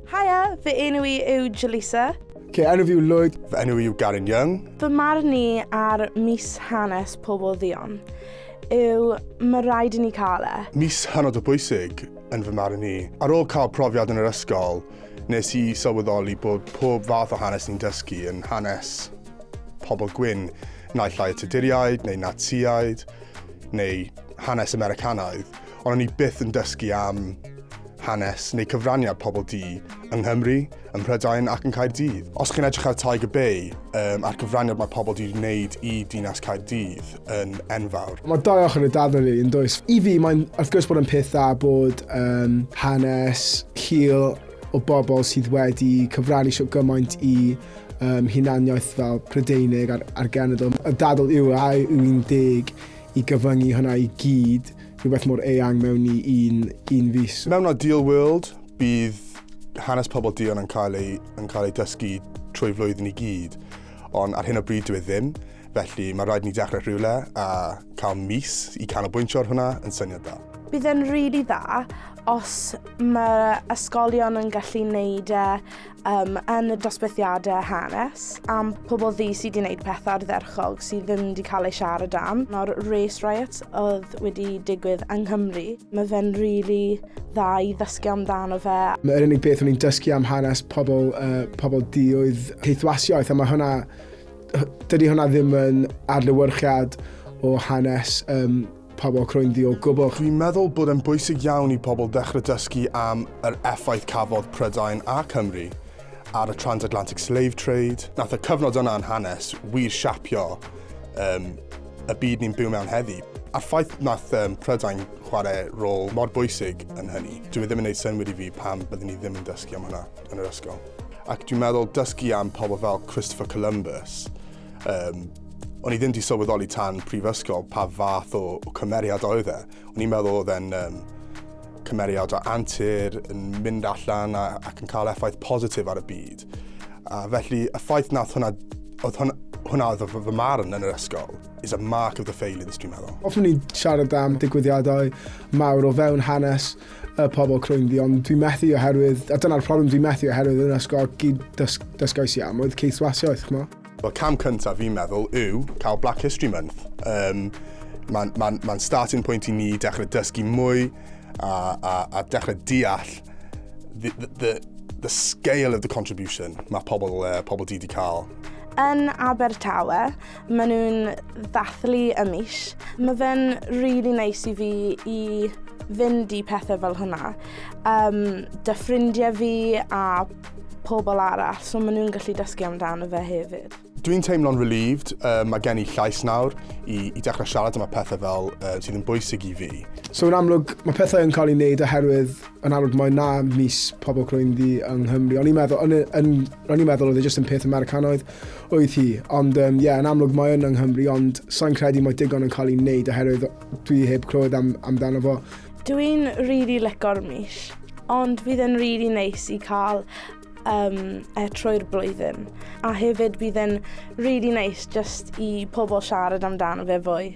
Haia, fy enw i yw Jaleesa. Ce, enw fi yw Lloyd, fy enw i yw Garen Young. Fy marn ni ar mis hanes pobl ddion yw mae rhaid i ni cael e. Mis hynod o bwysig yn fy marn ni. Ar ôl cael profiad yn yr ysgol, nes i sylweddoli bod pob fath o hanes ni'n dysgu yn hanes pobl gwyn, naill ai y Tuduriaid neu Natsiaid, neu hanes Americanaidd, ond o'n i byth yn dysgu am hanes neu cyfraniad pobl du yng Nghymru, ym Mhrydain ac yn Caerdydd. Os chi'n edrych ar Tiger Bay um, a'r cyfraniad mae pobl du'n wneud i dinas Caerdydd yn enfawr. Mae dau ochr y dafod rili yn does. I fi mae'n wrth gwrs bod yn peth dda bod um, hanes hil o bobl sydd wedi cyfrannu sio gymaint i um, hunaniaeth fel Prydeinig a'r, ar genedl. Y dadl yw a yw un deg i gyfyngu hwnna i gyd rhywbeth mor eang mewn i un, un fus. Mewn ideal world, bydd hanes pobl Dion yn cael ei, yn cael ei dysgu trwy flwyddyn i gyd, ond ar hyn o bryd dwi e ddim, felly mae rhaid ni dechrau rhywle a cael mis i canolbwyntio ar hwnna yn syniad da. Bydd e'n rili really dda os mae ysgolion yn gallu neud e um, yn y dosbarthiadau hanes am pobl ddi sydd wedi gwneud pethau ardderchog sydd ddim wedi cael eu siarad am. Nawr, race riots oedd wedi digwydd yng Nghymru. Mae fe'n rili really dda i ddysgu amdano fe. Mae'r unig beth o'n i'n dysgu am hanes pobl, uh, pobl di oedd heithwasiaeth, a mae hwnna, dydy hwnna ddim yn adlywyrchiad o hanes um, Pa mor croenddu o gwbl? Dwi'n meddwl bod e'n bwysig iawn i pobl ddechrau dysgu am yr effaith cafodd Prydain a Cymru ar y Transatlantic Slave Trade. Nath y cyfnod yna yn hanes wir siapio um, y byd ni'n byw mewn heddi. A'r ffaith nath um, Prydain chwarae rôl mor bwysig yn hynny, dwi e ddim yn gwneud synwyr i fi pam byddwn ni ddim yn dysgu am hwnna yn yr ysgol. Ac dwi'n meddwl dysgu am pobl fel Christopher Columbus, Um, o'n i ddim wedi sylweddoli tan prifysgol pa fath o, o cymeriad oedd e. O'n i'n meddwl oedd e'n um, cymeriad o antur yn mynd allan a, ac yn cael effaith positif ar y byd. A felly, y ffaith nath hwnna, oedd hwnna, hwnna oedd fy, fy marn yn yr ysgol, is a mark of the failings, dwi'n meddwl. Hoffwn i siarad am digwyddiadau mawr o fewn hanes y pobl crwyn fi, ond dwi'n methu oherwydd, a dyna'r problem, dwi'n methu oherwydd yn ysgol gyd dys, dysgais i am oedd ceithwasiaeth, chmo. Wel, cam cyntaf fi'n meddwl yw cael Black History Month. Um, Mae'n ma ma starting point i ni dechrau dysgu mwy a, a, a dechrau deall the, the, the scale of the contribution mae pobl, uh, pobl di wedi cael. Yn Abertawe, Mae nhw'n dathlu y mis. Mae fe'n really neis i fi i fynd i pethau fel hwnna. Um, dy ffrindiau fi a pobl arall, so maen nhw'n gallu dysgu amdano fe hefyd. Dwi'n teimlo'n relieved, uh, mae gen i llais nawr i, i dechrau siarad am y pethau fel uh, sydd yn bwysig i fi. So yn amlwg, mae pethau yn cael ei wneud oherwydd Yn amlwg, mae na mis pobl crwyn ddi yng Nghymru. O'n i'n meddwl, o'n i'n meddwl oedd e jyst yn peth Americanaidd oedd hi. Ond ie, um, yeah, yn amlwg mae yn yng Nghymru, ond sa'n credu mae digon yn cael ei wneud oherwydd dwi heb clywed am, amdano fo. Dwi'n rili really lecor mis, ond fydd e'n rili really neis i cael um, e trwy'r blwyddyn. A hefyd bydd e'n rili really neis just i pobl siarad amdano fe fwy.